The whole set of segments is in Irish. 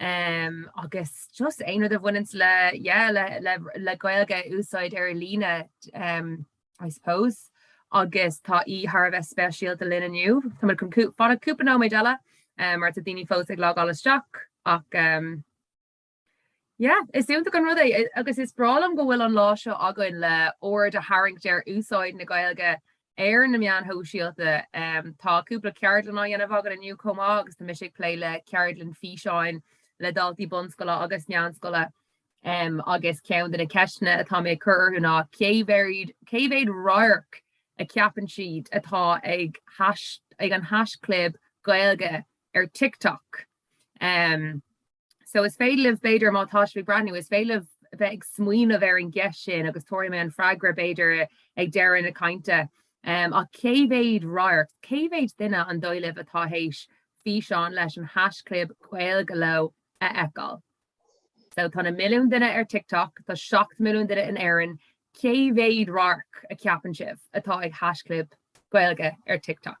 Umm agus just aon rud a bhaineanns le yeah le le le Gaeilge a úsáid ar líne umm I suppose agus tá í thar a bheith speisialta linn inniu. Tá muid chun fanacht cúpla nóiméid eile umm mar tá daoine fós ag logáil isteach ach umm yeah is iontach an rud é agus is breá liom go bhfuil an lá seo againn le aird a tharraingt ar úsáid na Gaeilge ar na meáin shóisialta. Tá cúpla ceardlann á dhéanamh againn inniu chomh maith agus tá mise ag plé le ceardlann físeáin le daltaí bunscoile agus meánscoile um, agus ceann de na ceisteanna atá mé ag cur orthu ná cé mhéad radharc a cheapann siad atá ag, ag an haischlib Gaeilge ar TikTok. Um, So is féidir libh, b'fhéidir, má tá sibh ag breathnú, is féidir libh a bheith ag smaoineamh ar an gceist sin agus tabharfaidh mé an freagra, b'fhéidir, ag deireadh na cainte. Ach cé mhéad radharc, cé mhéad duine is dóigh libh atá théis físeán leis an haischlib Gaeilge leo a fheiceáil? So tá na milliúin duine ar TikTok, tá seacht milliúin duine in Éirinn, cé mhéad radharc a cheapann sibh atá ag haischlib Gaeilge ar TikTok?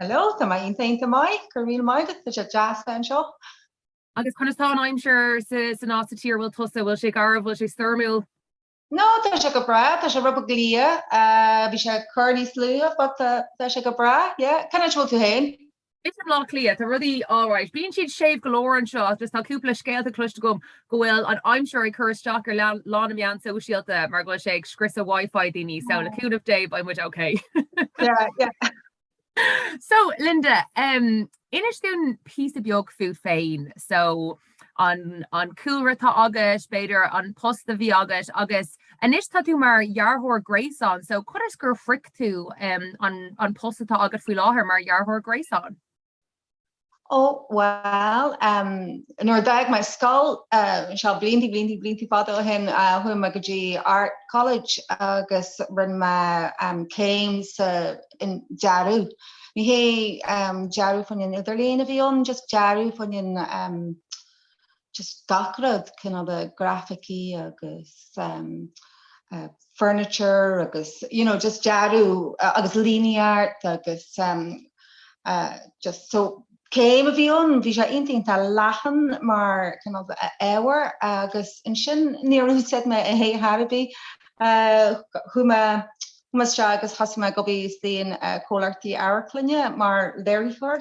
Hello, tá mé iontach iontach maith, go raibh míle maith agat, tá sé deas bheith anseo. Agus conas atá an aimsir san áit sa tír a bhfuil tusa, bhfuil sé garbh, bhfuil sé stoirmiúil? No, tá sé go breá, tá sé rud beag liath, bhí sé ag cur níos luaithe but tá tá sé go breá, yeah. Cén áit a bhfuil tú fhéin? I mBaile Átha Cliath, tá rudaí alright. Bíonn siad séimh go leor anseo, just tá cúpla scéalta cloiste agam go bhfuil an aimsir ag cur isteach ar lá na meán sóisialta mar go bhfuil sé ag scriosadh Wi-Fi daoine so le cúnamh Dé beidh muid ok. So Linda, inis dúinn píosa beag fút féin, so an cúlra atá agat, b'fhéidir an post a bhí agat agus anois tá tú mar dhearthóir gréasáin, so conas gur shroich tú an post atá agat faoi láthair mar dhearthóir gréasáin? Ó, bhuel, nuair a d'fhág mé an scoil, seo blianta, blianta, blianta fada ó shin, chuaigh mé go dtí Art College agus rinne mé céim sa dearadh. Ní hé dearadh faoin idirlíon a bhí ann, just dearadh faoin just gach rud cineál de grafaicí agus furniture agus you know just dearadh agus fine art agus just so céim a bhí ann bhí sé iontach iontach leathan mar cineál de ábhar agus ansin níor úsáid mé é ar chor ar bith chuaigh mé chuaigh mé isteach agus thosaigh mé ag obair sna comhlachtaí Amharclainne mar léiritheoir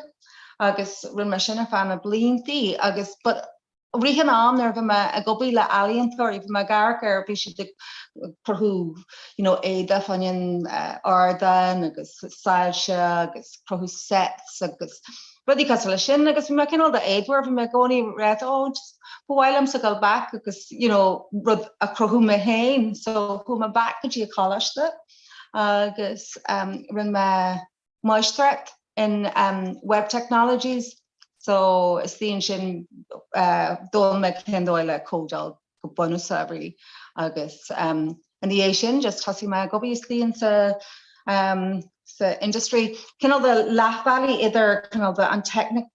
agus rinne mé sin ar feadh na bliantaí agus i rith an ama nuair bhí mé ag obair le ealaíontóirí bhí mé ag amharc ar bhí siad ag cruthú you know éadaí fá choinne an ardáin agus soilse agus cruthú sets agus rudí cosúil le sin agus bhí mé cineál de éadmhar bhí mé i gcónaí ag ráit ó ba mhaith liomsa gabháil back agus you know rud a chruthú mé féin so chuaigh mé back go dtí an coláiste agus um, rinne mé máistreacht in um web technologies so istigh ansin uh d'fhoghlaim mé cén dóigh le códáil go bunúsach really agus um i ndiaidh sin just thosaigh mé ag obair istigh insa um sa industry cineál de leath bealaigh idir cineál de an teicnic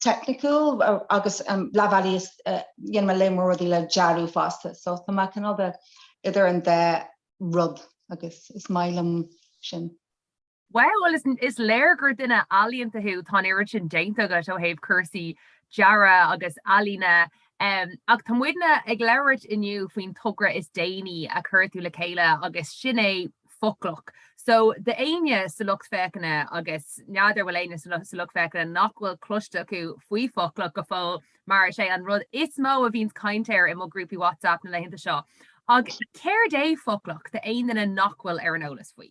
teicniciúil agus um leath bealaigh is uh déanann mé lear mór rudaí le dearadh fosta so tá mé cineál de idir an dá rud agus is maith liom sin. Wow, well listen, is léir gur duine ealaíonta thú, tá an oiread sin déanta agat ó thaobh cúrsaí dearadh agus ealaíne, em, ach tá muidne ag labhairt inniu faoin togra is déanaí a chuir tú le chéile agus sin é Foclach. So do éinne sa lucht féachana agus n'fheadar an bhfuil éinne sa lu- sa lucht féachana nach bhfuil cloiste acu faoi Foclach go fóill mar is é an rud is mó a bhíonn caint air i mo ghrúpaí WhatsApp na laethanta seo. Ach céard é Foclach do aon duine nach bhfuil ar an eolas faoi?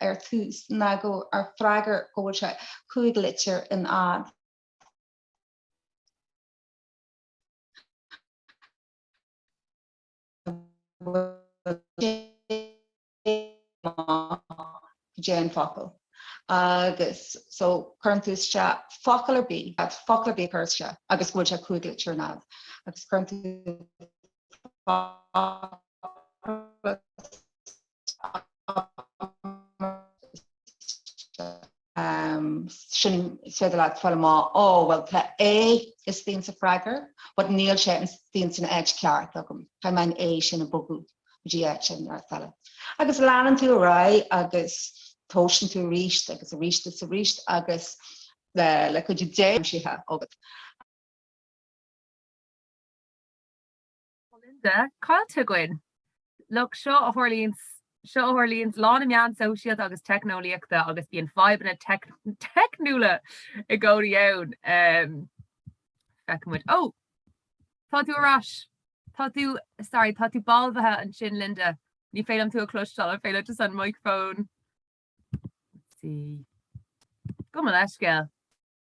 ar tús ná go ar freagra go bhfuil sé cúig litir ar fhad. Fad an fhocail agus so cuireann tú isteach focal ar bith fad focal ar bith a chur isteach agus go bhfuil sé cúig litir ar fhad agus cuireann tú focal Ansin is féidir leat fáil amach, Ó, bhuel, tá A istigh insa freagra, but níl sé istigh insan áit ceart agam. Caithfidh mé an A sin a bhogadh go dtí áit an áit eile. Agus leanann tú ar aghaidh agus tomhaiseann tú arís agus arís is arís agus le cuidiú Dé aimsithe agat, Linda, Caillte againn! Look, seo a tharlaíonns, seo a tharlaíonns lán na meán sóisialta agus teicneolaíochta agus bíonn fadhbanna teicniúla i gcónaí ann. Em, Feicfidh muid. Ó! Tá tú ar ais! Tá tú, sorry, tá tú balbhaithe ansin, Linda. Ní féidir liom tú a chloisteáil, an féidir leat just an micreafón? Let's see. Gabh mo leithscéal.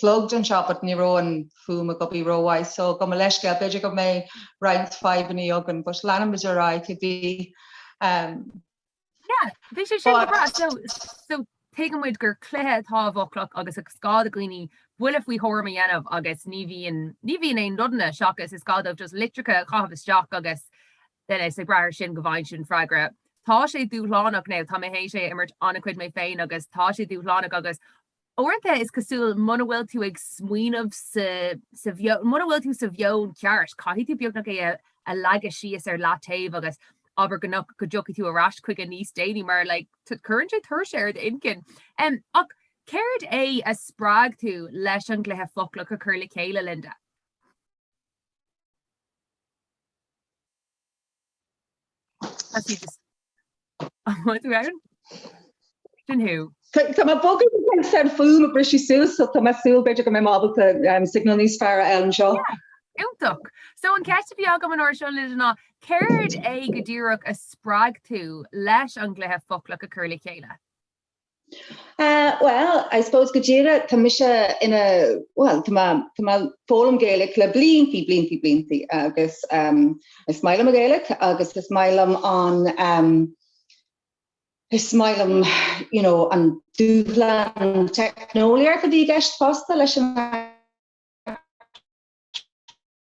Plugged anseo but ní raibh an fuaim ag obair ró-mhaith so gabh mo leithscéal b'fhéidir go mbeidh roinnt fadhbanna againn but leanfaidh muid ar aghaidh a bhí ehm. Yeah, bhí sé sin go breá so so tuigeann muid gur cluiche atá i bhFoclach agus is gá do dhaoine buille faoi thuairim a dhéanamh agus ní bhíonn ní bhíonn aon nodanna seachas is gá dóibh just litreacha a chaitheamh isteach agus ansin ag brath ar sin go bhfaighidh siad an freagra. Tá sé dúshlánach now, tá mé théis é a imirt an-chuid mé féin agus tá sé dúshlánach agus Uaireanta is cosúil muna bhfuil tú ag smaoineamh sa sa mheon, muna bhfuil tú sa mheon ceart, caithfidh tú beagnach é a leagadh síos ar leataobh agus abair go go dtiocfaidh tú ar ais chuige níos déanaí mar like cuireann sé tuirse ar d'inchinn. Um ach céard é a spreag tú leis an gcluiche Foclach a chur le chéile Linda? Tá mé bogtha go bhfuil an fuaim ag briseadh suas so tá mé súil b'fhéidir go mbeidh mé ábalta signal níos fearr a fháil anseo. Iontach! So an ceist a bhí agam an uair seo leis ná céard é go díreach a spreag tú leis an gcluiche foclach a chur le chéile? Bhuel, I suppose go díreach, tá mise ina, bhuel, tá mé, tá mé foghlaim Gaeilge le bliantaí, bliantaí, bliantaí agus is maith liom an Ghaeilge agus is maith liom an, is maith liom, you know, an dúshlán teicneolaíochta a bhí i gceist fosta leis an,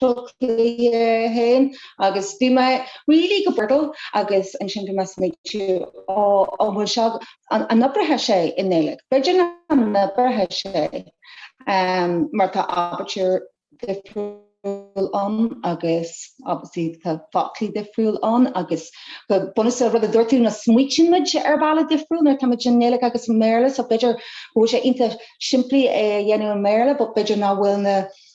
chluiche fhéin agus bhí mé really go Wordle agus ansin bhí mé ag smaoitiú ó an bhfuil seo an oibreodh sé i nGaeilg? B'fhéidir nach n-oibreodh sé mar tá aibítir difriúil ann agus obviously tá foclaí difriúil ann agus go bunúsach rud a dúirt tú ná smaoitíonn muid ar bhealach difriúil nuair atá muid i nGaeilg agus i mBéarla so b'fhéidir go bhfuil sé iontach simplí é a dhéanamh i mBéarla but b'fhéidir nach bhfuil na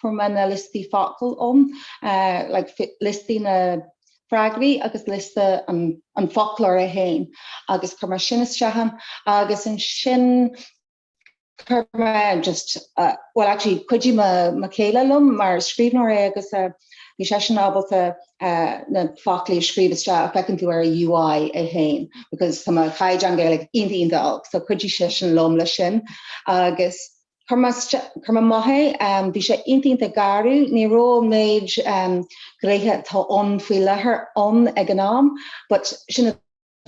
Fuair mé na liostaí focal um, like liostaí na bhfreagraí agus liosta an fhoclóra fhéin agus chuir mé sin isteach ann agus ansin chuir mé just, well actually cuidigh mo chéile liom mar scríbhneoir é agus bhí seisean ábalta na foclaí a scríobh isteach a feiceann tú ar an UI é fhéin because tá mo chaighdeán Gaeilge iontach iontach olc so cuidigh seisean liom leis sin agus Chuir mé amach é, bhí sé iontach garbh, ní raibh an méid gnéithe atá ann faoi láthair ann ag an am but sin an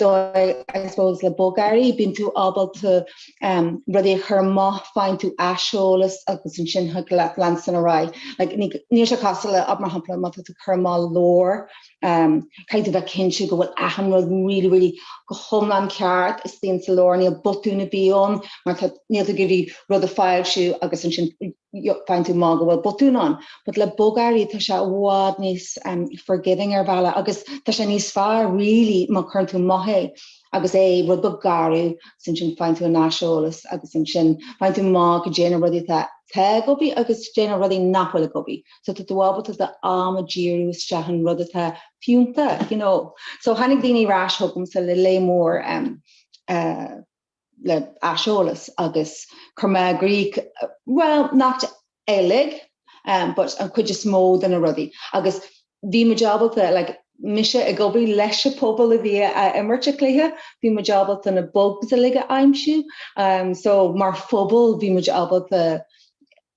dóigh I suppose le bogearraí, bíonn tú ábalta rudaí a chur amach, faigheann tú aiseolas agus ansin thig leat leanstan ar aghaidh. Like, níl sé cosúil le mar shampla má tá tú ag cur amach leabhar, Caithfidh tú a bheith cinnte go bhfuil achan rud really, really go hiomlán ceart. Istigh ansin sa leabhar, níl botúin a bhí ann mar tá, níl tú ag iarraidh rud a foilsiú agus ansin faigheann tú amach go bhfuil botúin ann. But le bogearraí tá sé i bhfad níos forgiving ar bhealach agus tá sé níos fearr really má cuireann tú amach é agus é rud beag garbh agus ansin faigheann tú an aiseolas agus ansin faigheann tú amach goidé na rudaí atá ag obair agus goidé na rudaí nach bhfuil ag obair. so tá tú ábalta do am a díriú isteach sa rud atá fiúnta you know so tháinig daoine ar ais chugamsa le lear mór um uh le aiseolas agus chuir mé i gcrích well not uilig um but an cuid is mó de na rudaí agus bhí muid ábalta like mise ag obair leis an pobal a bhí ag imirt an chluiche bhí muid ábalta na bugs uilig a aimsiú um so mar phobal bhí muid ábalta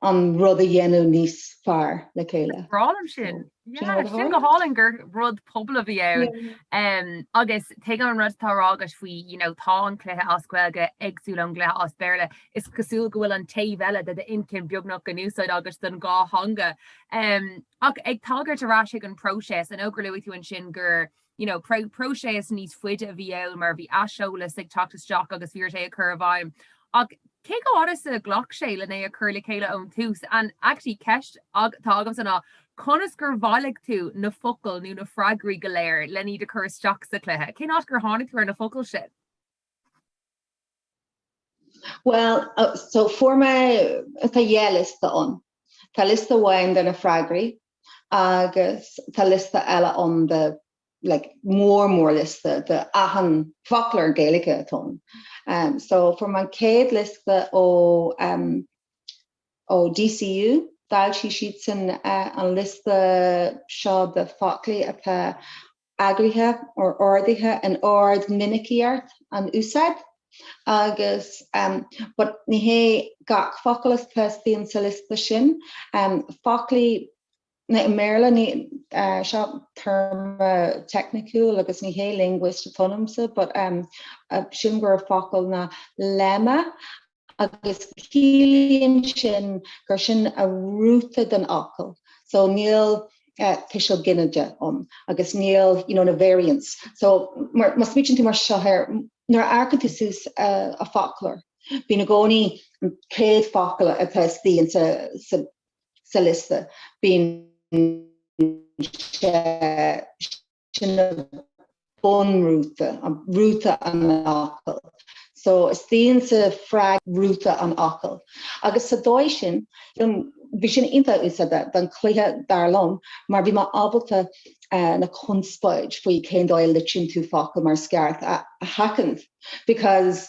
an rud a dhéanamh níos fearr le chéile. Is breá liom sin. Sin go hálainn gur rud pobail a bhí ann agus tuigim an rud atá á rá agat faoi you know tá an cluiche as Gaeilge éagsúil ón gcluiche as Béarla. Is cosúil go bhfuil an taobh eile de d'intinn beagnach in úsáid agat don dhá theanga. Ach ag tagairt ar ais chuig an próiseas, an cheardaíocht a luaigh tú ansin gur you know, próiseas níos faide a bhí ann mar bhí aiseolas ag teacht isteach agus bhí ort é a chur i bhfeidhm ach cé chomh fada is a ghlac sé lena chur le chéile ón tús and actually ceist atá agamsa ná conas gur bhailigh tú na focail nó na freagraí go léir le hiad a chur isteach sa chluiche? Cén áit gur tháinig tú ar na focail sin? Bhuel, so fuair mé, tá dhá liosta ann. Tá liosta amháin de na freagraí agus tá liosta eile ann de like, mór mór liosta de achan focal Gaeilge atá ann. Um, so fuair mé an chéad liosta ó, um, ó DCU, d'fhoilsigh siad sin uh, an liosta seo de focla atá eagraithe nó ordaithe in ord minicíocht an úsáid agus but ní hé gach focal atá istigh ansin sa liosta sin focla i mBéarla seo téarma teicniciúil agus ní hé linguist atá ionamsa but sin gurb é an focal ná lemma agus ciallaíonn sin gur sin an rúta den fhocal so níl tuiseal ginideach ann agus níl you know na variants so má smaointíonn tú mar seo air nuair a amharcann tú suas an foclóir bíonn i gcónaí an chéad focal atá istigh ansa sa sa liosta bíonn sé sin an bun rúta, rúta an fhocail. So is ionsar fréamh rúta an fhocail. Agus sa dóigh sin bhí sin iontach úsáideach don cluiche dar liom mar bhí mé ábalta na conspóid faoi cén dóigh a litríonn tú focail mar is ceart a sheachaint because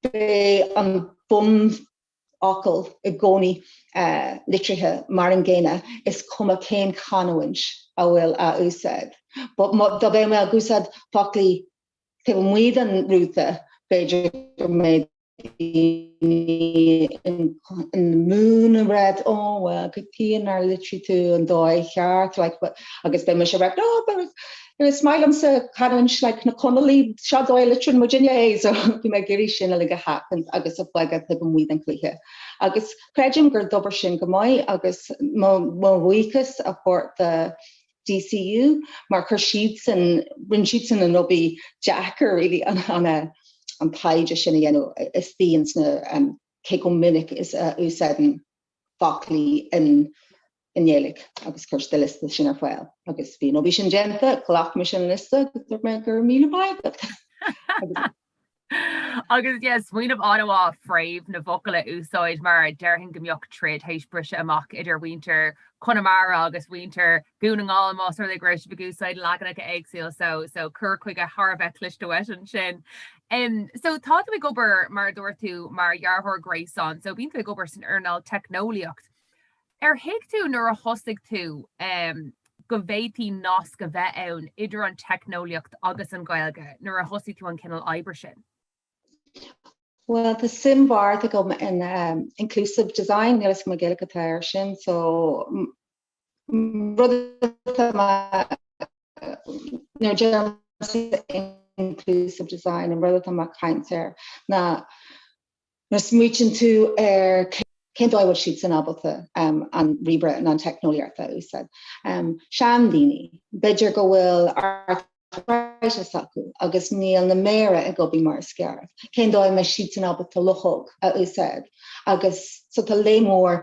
bheadh an bun fhocal i gcónaí litrithe mar an gcéanna, is cuma cén chanúint a bhfuil á úsáid. But dá mbeadh mé ag úsáid focla taobh amuigh den rúta, b'fhéidir go mbeadh daoine in ann a rá, ó bhuel, cad chuige nár litrigh tú an dóigh cheart, like, agus bheadh mise ag rá, oh, but. Is maith liomsa canúint like na gConallach, seo an dóigh a litreann muidinne é so bhí mé ag iarraidh sin uilig a sheachaint agus a bhogadh taobh amuigh den chluiche agus creidim gur oibir sin go maith agus mo mo bhuíochas a thabhairt do DCU mar chuir siadsan rinne siadsan an obair deacair really an an an taighde sin a dhéanamh isteach sna cé chomh minic is a úsáideann focla in i nGaeilge agus chuir siad an liosta sin ar fáil agus bhí, nuair a bhí sin déanta, ghlac mise an liosta agus dúirt mé go raibh míle maith agat agus. Agus yeah, smaoineamh an-mhaith fréamh na bhfocal a úsáid mar déarfainn go mbeadh troid tar éis briseadh amach idir mhuintir Chonamara agus mhuintir Dhún na nGall más rud é go raibh siad ag úsáid leaganacha éagsúla so so cur chuige thar a bheith cliste uait ansin. Um, so tá tú ag obair mar a dúirt tú mar dhearthóir gréasáin so bíonn tú ag obair san earnáil teicneolaíocht. Ar thuig tú nuair a thosaigh tú go bhféadfaí nasc a bheith ann idir an teicneolaíocht agus an Ghaeilge, nuair a thosaigh tú an cineál oibre sin? Bhuel tá suim mhór agam in inclusive design, níl fhios agam an Ghaeilge atá air sin, so rud atá nuair a déanann tú inclusive design an rud atá mé ag caint air ná Nuair a smaoitíonn tú ar cén dóigh a bhfuil siadsan ábalta an ríomhaire nó an teicneolaíocht a úsáid, seandaoine, b'fhéidir go bhfuil arthritis acu agus níl na méara ag obair mar is ceart, cén dóigh a mbeidh siadsan ábalta luchóg a úsáid agus so tá lear mór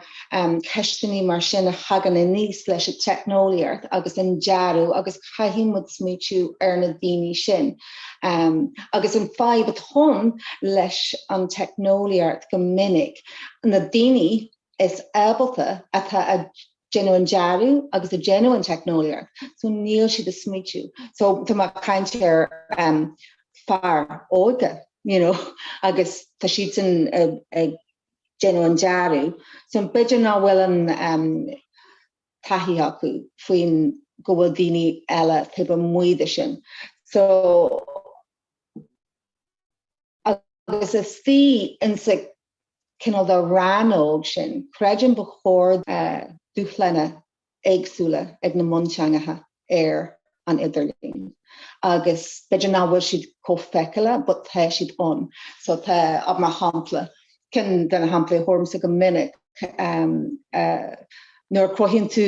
ceisteannaí mar sin a thagann aníos leis an teicneolaíocht agus an dearadh agus caithfidh muid smaoitiú ar na daoine sin. agus an fhadhb atá agam leis an teicneolaíocht go minic na daoine is ábalta atá ag déanamh an dearadh agus ag déanamh an teicneolaíocht so níl siad ag smaoitiú so tá mé ag caint ar fir óga you know agus tá siadsan ag déanamh an dearadh so b'fhéidir nach bhfuil an taithí acu fiú go bhfuil daoine eile taobh amuigh de sin so agus istigh insa cineál de rannóg sin creidim go bhfuil dúshláin éagsúla ag na mionteangacha ar an idirlíon agus b'fhéidir nach bhfuil siad chomh feiceálach but tá siad ann. So tá mar shampla, ceann de na samplaí a thugaimse go minic nuair a chruthaíonn tú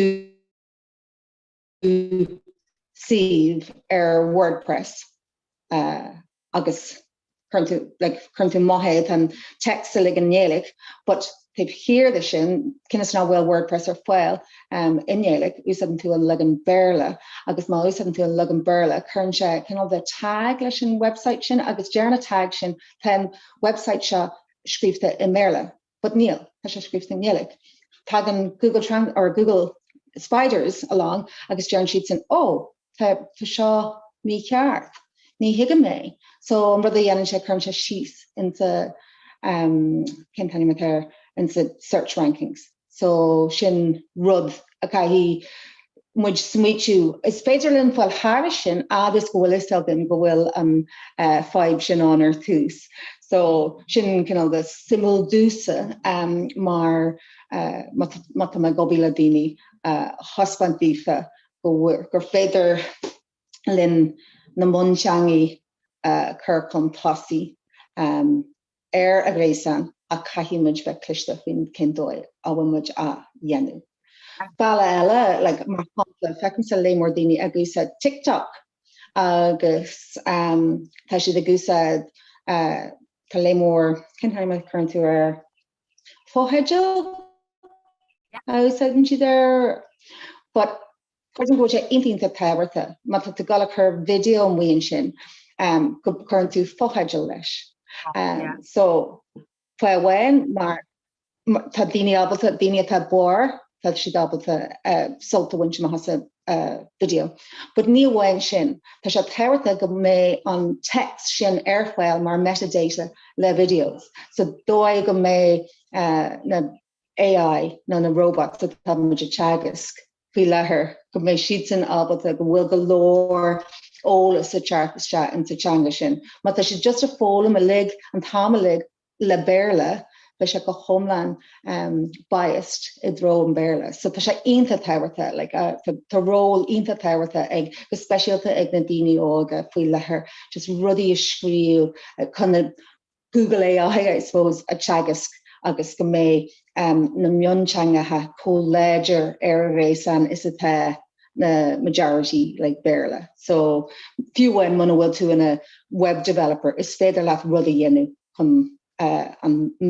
suíomh ar WordPress, agus cuireann tú like cuireann tú mar shampla tá an text uilig i nGaeilge but taobh thiar de sin cionn is nach bhfuil WordPress ar fáil um i nGaeilge úsáideann tú an leagan Béarla agus má úsáideann tú an leagan Béarla cuireann sé cineál de tag leis an website sin agus deir na tags sin tá an website seo scríofa i mBéarla. but níl, tá sé scríofa i nGaeilge. Tagann Google Trans or Google Spiders along agus deireann siadsan ó tá tá seo mícheart, ní thuigim é. So an rud a dhéanann sé cuireann sé síos insa um cén t-ainm atá air insa search rankings. So sin rud caithfidh muid smaoitiú air. Is féidir linn fáil thairis sin fhad is go bhfuil fhios againn go bhfuil an fadhb sin ann ar tús. So sin cineál de suimiúil domhsa mar má tá mé ag obair le daoine a thaispeáint daofa go bhfuil, gur féidir linn na mionteangacha a chur chun tosaigh. ar an ghréasán ach caithfidh muid bheith cliste faoin dóigh a bhfuil muid á dhéanamh. Bealach eile, like, mar shampla, feicim lear mór daoine ag úsáid TikTok agus tá siad ag úsáid, tá lear mór, cén t-ainm a chuireann tú air, fotheidil a úsáideann siad air, but Creidim go bhfuil sé iontach tábhachtach má tá tú dul a chur video amuigh ansin go gcuireann tú fotheidil leis. So fáth amháin mar tá daoine ábalta daoine atá bodhar tá siad ábalta sult a bhaint amach as an video. But ní amháin sin, tá sé tábhachtach go mbeidh an text sin ar fáil mar metadata le videos. Sa dóigh go mbeidh na AI nó na robots atá muid a teagasc faoi láthair, go mbeidh siadsan ábalta, go bhfuil go leor eolas a teacht isteach insa teanga sin. Má tá siad just a' foghlaim uilig, an t-am uilig le Béarla, beidh sé go hiomlán biased i dtreo an Bhéarla. So tá sé iontach tábhachtach, like tá ról iontach tábhachtach ag, go speisialta ag na daoine óga faoi láthair, just rudaí a scríobh chun na, Google AI I suppose a teagasc agus go mbeidh na mionteangacha chomh láidir ar an ghréasán is atá na majority languages like Béarla. So fiú amháin muna bhfuil tú ina web developer is féidir leat rud a dhéanamh chun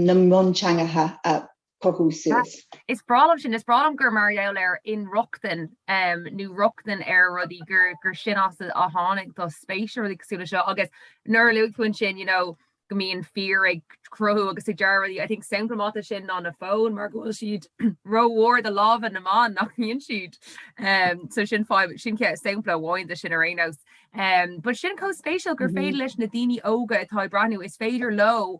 na mionteangacha a chur suas. Is breá liom sin. Is breá liom gur mar gheall ar inrochtain nó rochtain ar rudaí gur gur sin as a tháinig do spéis ar rudaí cosúil leis seo agus nuair a luaigh tú ansin you know go mbíonn fir ag cruthú agus ag dearadh rudaí. I think sampla maith de sin ná na fóin mar go bhfuil siad rómhór de lámha na mban nach mbíonn siad. Um, so sin fáim sin just sampla amháin de sin ar aon nós. Um, but sin chomh spéisiúil gur féidir leis na daoine óga atá ag breathnú is féidir leo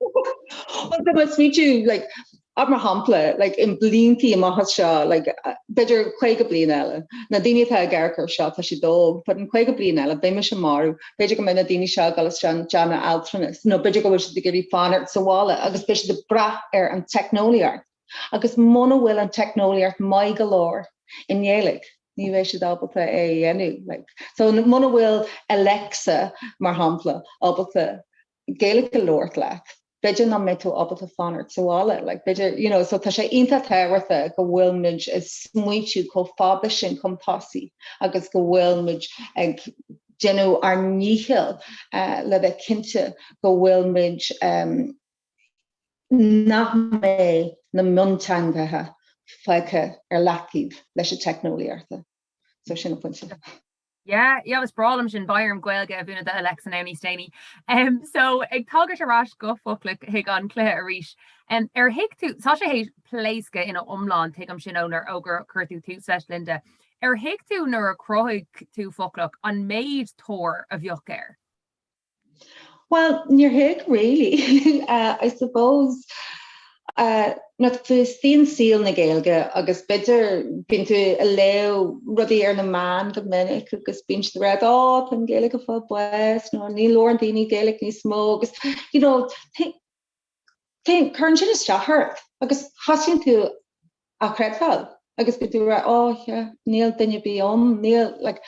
Well tá más fítiú like ab mar shampla like in bliantaí amach as seo like b'fhéidir 50 bliain eile na daoine atá ag amharc ar seo tá siad óg but in 50 bliain eile beidh mise marbh b'fhéidir go mbeidh na daoine seo ag dul isteach i dteach altranais nó b'fhéidir go bhfuil siad ag iarraidh fanacht sa bhaile agus beidh siad ag brath ar an teicneolaíocht agus muna bhfuil an teicneolaíocht maith go leor i nGaeilge ní bheidh siad ábalta é a dhéanamh like so muna bhfuil Alexa mar shampla ábalta Gaeilge a labhairt leat. B'fhéidir nach mbeidh tú ábalta fanacht sa bhaile, like b'fhéidir, you know, so tá sé iontach tábhachtach go bhfuil muid ag smaointiú chomh fada sin chun tosaigh agus go bhfuil muid ag déanamh ár ndícheall le bheith cinnte go bhfuil muid, nach mbeidh na mionteangacha fágtha ar leataobh leis an teicneolaíocht. So sin an pointe. Yeah yeah is breá liom sin beidh orm Gaeilge a mhúineadh do Alexa now níos déanaí. Um, so ag tagairt ar ais go Foclach chuig an cluiche arís, um, ar thuig tú, tá sé tar éis pléascadh ina iomlán tuigim sin ón uair gur chuir tú tús leis Linda, ar thuig tú nuair a chruthaigh tú Foclach an méid tóir a bheadh air? Bhuel níor thuig really I suppose uh na' bhfios agat i saol na Gaeilge agus b'fhéidir bíonn tú ag léamh rudaí ar na meáin go minic agus bíonn siad ag rá ó tá an Gaeilge ag fáil bháis nó ní labhraíonn daoine Gaeilge níos mó agus you know Cuireann sin isteach ort agus tosaíonn tú á chreidbheáil agus go dtú ag rá 'Ó yeah, níl duine ar bith ann, níl like.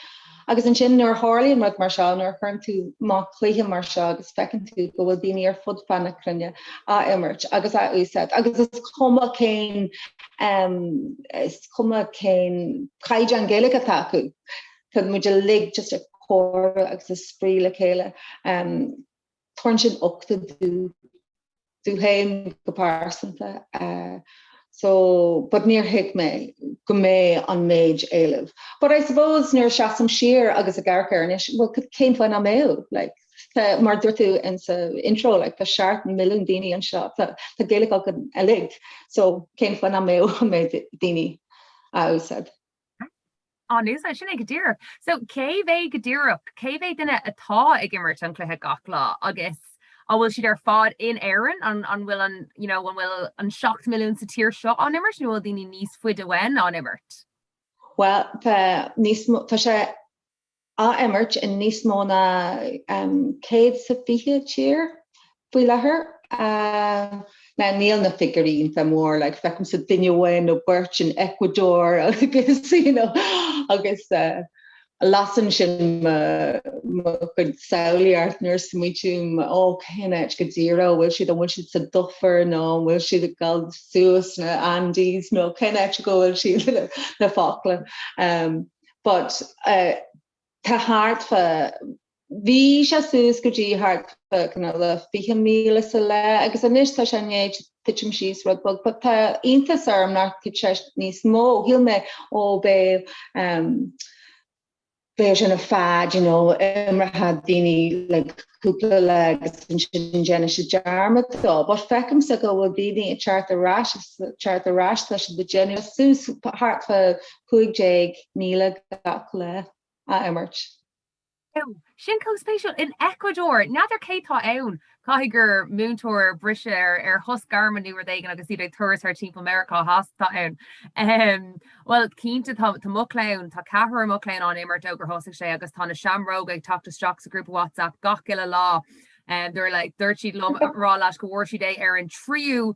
Agus ansin nuair a tharlaíonn rud mar seo, nuair a chuireann tú amach cluiche mar seo agus feiceann tú go bhfuil daoine ar fud fad na cruinne á imirt agus á úsáid agus is cuma cén um, is cuma cén caighdeán Gaeilge atá acu, tá muid uilig just ag comhrá agus ag spraoi le chéile. Um, Tabharann sin uchtach domh féin go pearsanta so but níor thuig mé go mbeidh an méid éilimh but I suppose nuair a seasaim siar agus ag amharc air anois well cén fáth nach mbeadh like tá mar dúirt tú insan intro like tá seacht milliún daoine anseo tá tá Gaeilge againn uilig so cén fáth nach mbeadh an méid daoine á úsáid. An úsáid sin é go díreach? So, cé mhéad go díreach? Cé mhéad duine atá ag imirt an cluiche gach lá agus an bhfuil siad ar fad in Éirinn? An, an bhfuil an, you know, an bhfuil an seacht milliún sa tír seo á n-imirt nó an bhfuil daoine níos faide uainn á n-imirt? Bhuel, tá níos mó, tá sé á imirt i níos mó ná 120 tír faoi láthair. Now níl na figiúirí iontach mór, like feicimse duine amháin nó beirt in Ecuador agus you know agus lasann sin mo mo chuid samhlaíocht nuair a smaoitím ó cén áit go díreach a bhfuil siad, an bhfuil siad sa dufair nó an bhfuil siad ag dul suas sna Andes nó cén áit go bhfuil siad le Foclach. but eh tá thart fá bhí sé suas go dtí thart fá kinda like 20 míle sa lá agus anois tá sé i ndiaidh tuitim síos rud beag but tá iontas orm nach tuit sé níos mó shíl mé ó beidh ehm beidh sé ina fad you know imreochaidh daoine like cúpla lá agus sin déanfaidh siad dearmad dó but feicimse go bhfuil daoine ag teacht ar ais agus teacht ar ais tá siad ag déanamh suas thart fá 15,000 gach lá á imirt. Ó, sin chomh spéisiúil. In Ecuadór, n'fheadar cé tá ann, caithfidh gur múinteoir ar briseadh ar shos gairme nó rud éigin agus iad ar turas thart timpeall Meiriceá Theas atá ann. Ahem. Bhuel, cinnte, tá mo chlann, tá ceathrar i mo chlann á n-imirt ó gur thosaigh sé agus tá na Seamróga ag teacht isteach sa ghrúpa WhatsApp gach uile lá. Dúirt siad liom a rá leat go bhfuair siad é ar an tríú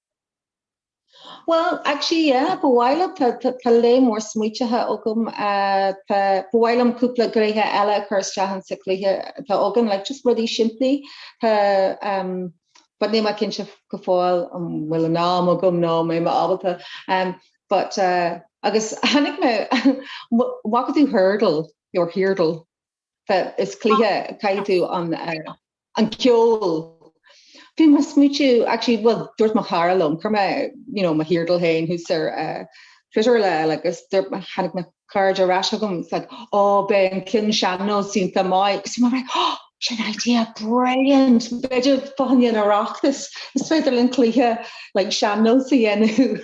Bhuel actually yeah ba mhaith liom tá tá lear mór smaoitithe agam eh, tá ba mhaith liom cúpla gréithe eile a chur isteach insa chluiche atá agam like just rudaí simplí tá um, but níl mé cinnte go fóill an um, bhfuil an am agam nó an mbeidh mé ábalta um, but uh, agus tháinig an bhfaca tú Heardle your Heardle Is cluiche caithfidh tú an an ceol bhí mé ag smaoitiú actually bhuel dúirt mo chara liom chuir mé you know mo Heardle féin thuas ar Twitter an lá eile agus dúirt mé tháinig mo chairde ar ais chugam it's like ó bheadh an ceann sean-nós iontach maith agus bhí mé like oh sin idea brilliant b'fhéidir fá choinne an Oireachtais is féidir linn cluiche like sean-nós a dhéanamh.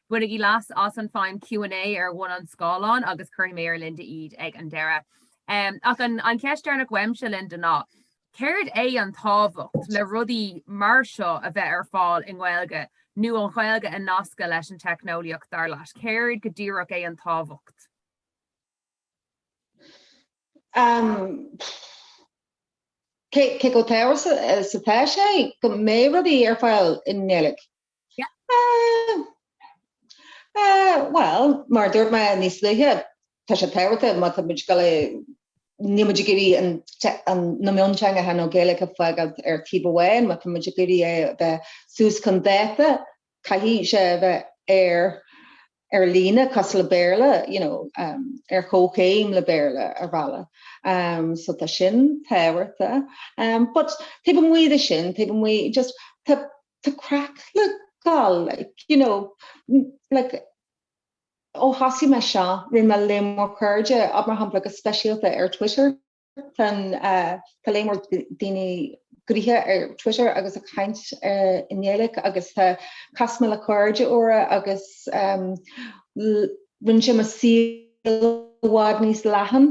Bainigí leas as an feidhm Q and A ar bhun an scáileáin agus cuirfidh mé ar Linda iad ag an deireadh. Ach an cheist deireanach uaimse, Linda, ná céard é an tábhacht le rudaí mar seo a bheith ar fáil i nGaeilge nó an Ghaeilge a nascadh leis an teicneolaíocht, dar leat? Céard go díreach é an tábhacht? Cé chomh tábhachtach atá sé go mbeidh rudaí ar fáil i nGaeilge Bhuel, mar a dúirt mé níos luaithe, tá sé tábhachtach má tá muid ag goil, níl muid ag iarraidh na mionteangacha nó Gaeilge a fhágáilt ar taobh amháin, má tá muid ag iarraidh é a bheith suas chun dáta, caithfidh sé a bheith ar líne, cosúil le Béarla, you know, ar chomhchéim le Béarla ar bhealach. So tá sin tábhachtach. But taobh amuigh de sin, taobh amuigh, just, tá tá craic le fáil like you know like ó thosaigh mé seo rinne mé lear mór cairde, ó mar shampla go speisialta ar Twitter tan eh tá lear mór daoine gnoitheach ar Twitter agus ag caint eh i nGaeilig agus tá cas mé le cairde úra agus em rinne sé mo shaol i bhfad níos leathan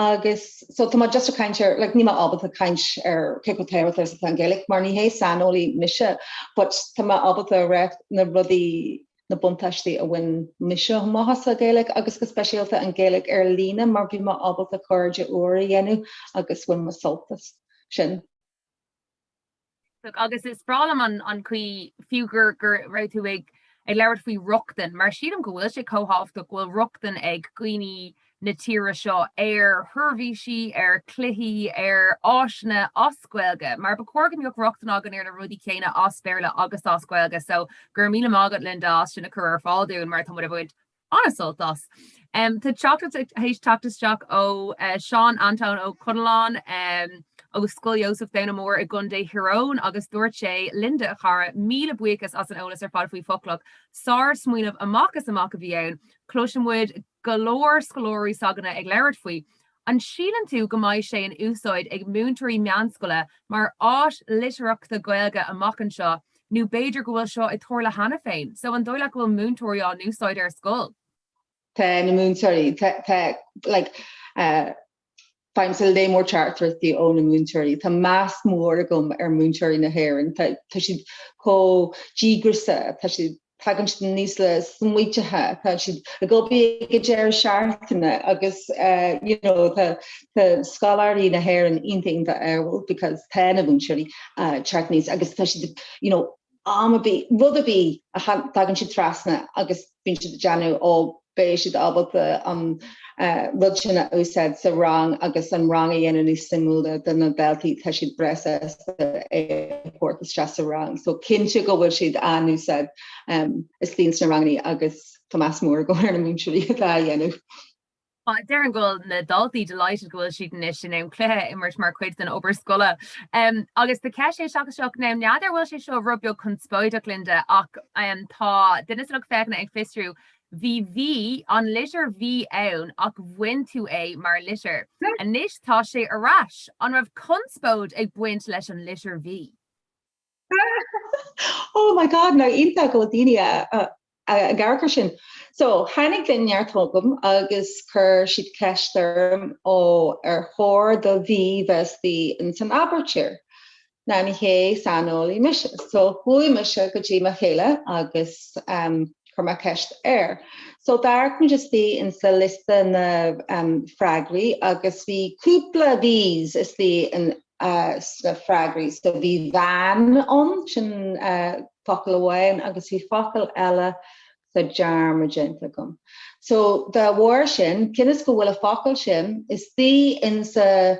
agus so tá mé just ag caint ar like níl mé ábalta caint ar cé chomh tábhachtach is atá an Ghaeilig mar ní hé saineolaí mise but tá mé ábalta a ráit na rudaí na buntáistí a bhain mise amach as an Ghaeilig agus go speisialta an Ghaeilig ar líne mar bhí mé ábalta cairde úra a dhéanamh agus bhain mé sult as sin. Agus is breá liom an chaoi fiú go raibh tú ag labhairt faoi rochtain, mar sílim go bhfuil sé chomh tábhachtach go bhfuil rochtain ag daoine na tíre seo ar sheirbhísí, ar chluichí, ar áiseanna as Gaeilge, mar ba chóir go mbeadh rochtain againn ar na rudaí céanna as Béarla agus as Gaeilge. So, go raibh míle maith agat, Linda, as sin a chur ar fáil dúinn, mar tá muid ag baint an-sult as. Tá teachtaireacht ag teacht isteach ó Seán Antóin Ó Conalláin ó Scoil Iósaif Domhnach Mór i gContae Thír Eoghain agus dúirt sé, Linda, a chara, míle buíochas as an eolas ar fad faoi Foclach. Sár-smaoineamh amach is amach a bhí ann. Cloiseann muid go leor scoláirí s'againne ag labhairt faoi, An síleann tú go mbeidh sé in úsáid ag múinteoirí meánscoile mar áis litearthachta Gaeilge amach anseo nó b'fhéidir go bhfuil seo ag tarlú cheana féin? So an dóigh leat go bhfuil múinteoirí á n-úsáid ar scoil? Tá na múinteoirí, tá, tá, like, eh, faighimse lear mór teachtaireachtaí ó na múinteoirí. Tá meas mór agam ar mhúinteoirí na hÉireann. Tá, tá siad chomh díograiseach, tá siad, tagann siad aníos le smaointe, tá siad ag obair ag deireadh seachtaine agus you know tá tá scoláirí na hÉireann iontach iontach ádhúil because tá na múinteoirí teacht aníos agus tá siad ag you know am ar bith rud ar bith a tagann siad trasna agus bíonn siad ag déanamh ó beidh siad ábalta an rud sin a úsáid sa rang agus an rang a dhéanamh níos suimiúla do na daltaí tá siad breá sásta é a thabhairt isteach sa rang so cinnte go bhfuil siad á n-úsáid istigh ins na rangannaí agus tá meas mór agam ar na múinteoirí atá á dhéanamh. Déarfainn go bhfuil na daltaí delighted go bhfuil siad anois in ann cluiche a imirt mar chuid den obair scoile. Agus tá ceist isteach now n'fheadar bhfuil sé seo rud beag conspóideach Linda ach tá duine sa lucht féachana ag fiosrú Bhí V, an litir V ann ach bhain tú é mar litir. Anois tá sé ar ais. An raibh conspóid ag baint leis an litir V? Oh my God nach iontach go bhfuil daoine a ag amharc ar sin. So tháinig an neart chugam agus chuir siad ceist orm ó ar chóir do V bheith istigh ins an aibítir. ní hé saineolaí mise. So chuaigh mise go dtí mo chéile agus chuir mé ceist air. So d'amharc muid istigh insa liosta na freagraí agus bhí cúpla Vs istigh sna freagraí. So bhí van ann, sin focal amháin, agus bhí focal eile tá dearmad déanta agam. So dá bharr sin, cionn is go bhfuil an focal sin istigh insa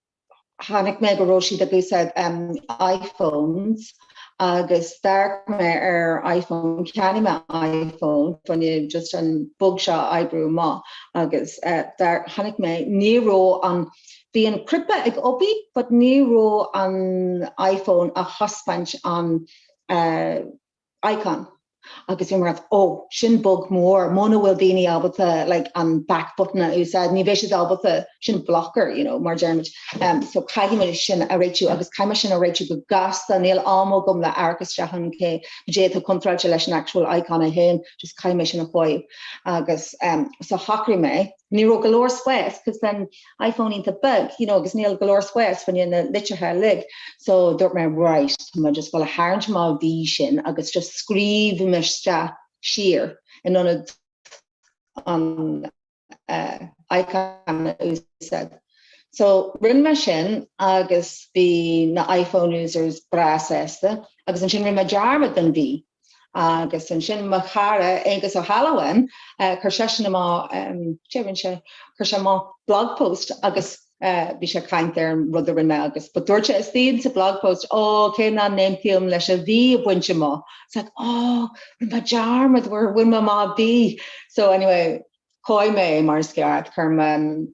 chonaic mé go raibh siad ag úsáid iPhones agus d'amharc mé ar iPhone, cheannaigh mé iPhone fá choinne just an bug seo a oibriú amach agus chonaic mé, ní raibh an, bhí an cnaipe ag obair but ní raibh an iPhone á thaispeáint an Icon. Agus bhí mé ag rá, Ó, sin bug mór, muna bhfuil daoine ábalta like an back button a úsáid, ní bheidh siad ábalta, sin blocker, you know, mar deirimid. Um, so caithfidh mé sin a réitiú agus caithfidh mé sin a réitiú go gasta, níl am agam le amharc isteach ann cad é atá contráilte leis an actual icon é féin, just caithfidh mé sin a chóiriú. Agus um, so shocraigh mé, ní raibh go leor spás, 'cause an, iPhone iontach beag you know agus níl go leor spás fá choinne na litreacha uilig so dúirt mé right tá mé just ag gabháil a tharraingt amach an V sin agus just scríobhfaidh mé isteach siar in ionad an uh icon a úsáid. So rinne mé sin agus bhí na iPhone users breá sásta agus ansin rinne mé dearmad den V Agus ansin mo chara Aengus Ó hAlmhain, chuir seisean amach, céard a rinne sé? Chuir sé amach blog post agus bhí sé ag caint ar an rud a rinne mé agus but dúirt sé istigh sa blog post, Ó, cé nach n-aontaím leis an B a bhaint amach. It's like, Ó, rud maith dearmad gur bhain mé amach an B. So anyway, chomhaigh mé é mar is ceart, chuir mé an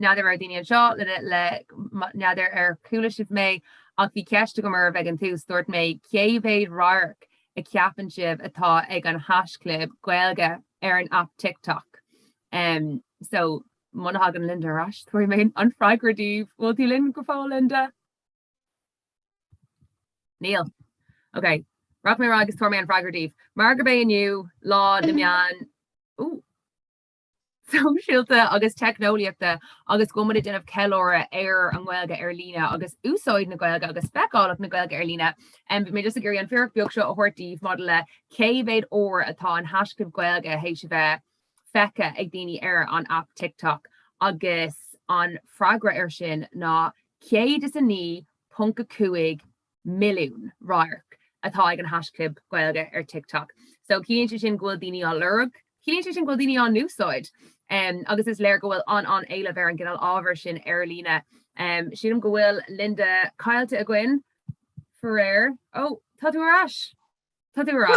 N'fheadar ar dhaoine anseo le n'fheadar ar chuala sibh mé, ach bhí ceist agam romhaibh ag an tús, dúirt mé, cé mhéad radharc a cheapann sibh atá ag an haisclib Gaeilge ar an aip TikTok? So, muna thagann Linda ar ais, tabharfaidh mé an freagra daoibh. Bhfuil tú linn go fóill, Linda? Níl. Ok, rachaidh mé ar ais agus tabharfaidh mé an freagra daoibh. Mar gurb é inniu Lá na Meán sóisialta agus teicneolaíochta agus go mbeidh muid ag déanamh ceiliúradh ar an nGaeilge ar líne agus úsáid na Gaeilge agus feiceálacht na Gaeilge ar líne. Bhí mé just ag iarraidh an fíric beag seo a thabhairt daoibh maidir le cé mhéad uair atá an haischlib Gaeilge théis a bheith feicthe ag daoine ar an aip TikTok agus an freagra air sin ná 109.5 milliún radharc atá ag an haisclib Gaeilge ar TikTok. So ciallaíonn sé sin go bhfuil daoine á lorg, ciallaíonn sé sin go bhfuil daoine á húsáid um agus is léir go bhfuil an an éileamh ar an gcineál ábhair sin ar líne. Um sílim go bhfuil Linda caillte againn faraor. Ó tá tú ar ais. Tá tú ar ais.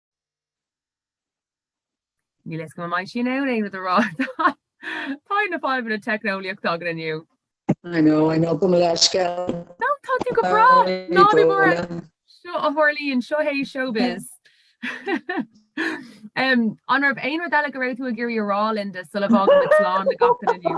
Níl fhios agam an mbeidh sí in ann aon rud a rá, tá fadhb na fadhbanna teicneolaíochta againn inniu. I know, I know, tá brón orm faoin an scéal. No, tá tú go breá! Ná bí buartha, a chailín, seo é showbiz. An raibh aon rud eile go raibh tú ag iarraidh a rá, Linda, sula bhfágann muid slán ag gach duine inniu?